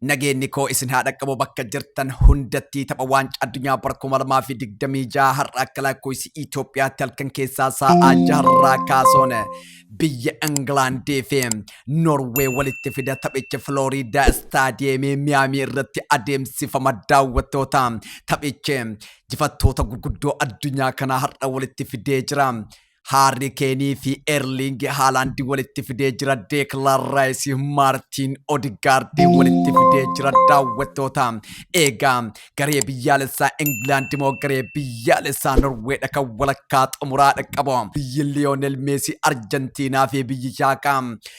Nageenni koo isin haa dhaqqabu bakka jirtan hundattii tapha waancaa addunyaa bara 2026 har'a akka lakkoofsi Itoophiyaatti halkan keessaa saa'aa jaharraa kaasuun biyya Ingilaandii fi Noorwee walitti fida taphichi Filooriidaa istaadiyeemii Miyaamii irratti adeemsifama daawwattoota taphichi jifattoota gurguddoo addunyaa kanaa har'a walitti fidee jira. Haarri Keenii fi Erling Haalaandi walitti fidee jira. Deeklaan Raayisi Maartiin Odigaardii walitti fidee jira. Daawwattoota eegaa garee biyyaalessaa Ingilaandi moo garee biyyaalessaa Norweedha kan walakkaa xumuraa dhaqqabu. Biyyi Liyoonel Meesii Arjantiinaa fi biyyi Shaakaa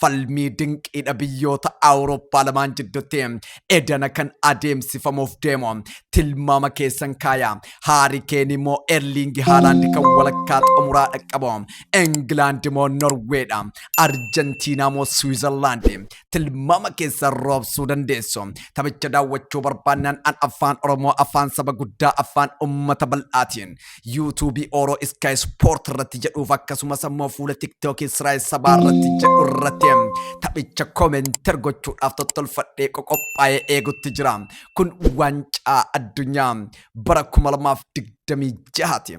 falmii dinqiidha biyyoota Awurooppaa lamaan jidduutti edana kan adeemsifamuuf deemu tilmaama keessan kaaya. Haari Keen immoo Erliingi Haalaandi kan walakkaa xumuraa dhaqqabu. Ingilaandi immoo Norweedha. Arjentiinaa immoo Siwiizerlaandi tilmaama keessan roobsuu dandeessu. Taphicha daawwachuu barbaannaan an afaan Oromoo afaan saba guddaa afaan uummata bal'aatiin YouTube Oro Sky Sport irratti jedhuuf akkasumas ammoo fuula TikTok Israa'el sabaa irratti jedhu irratti taphicha koomenter gochuudhaaf tottolfadhee qoqophaa'ee eegutti jira. Kun waancaa addunyaa bara 2026 ti.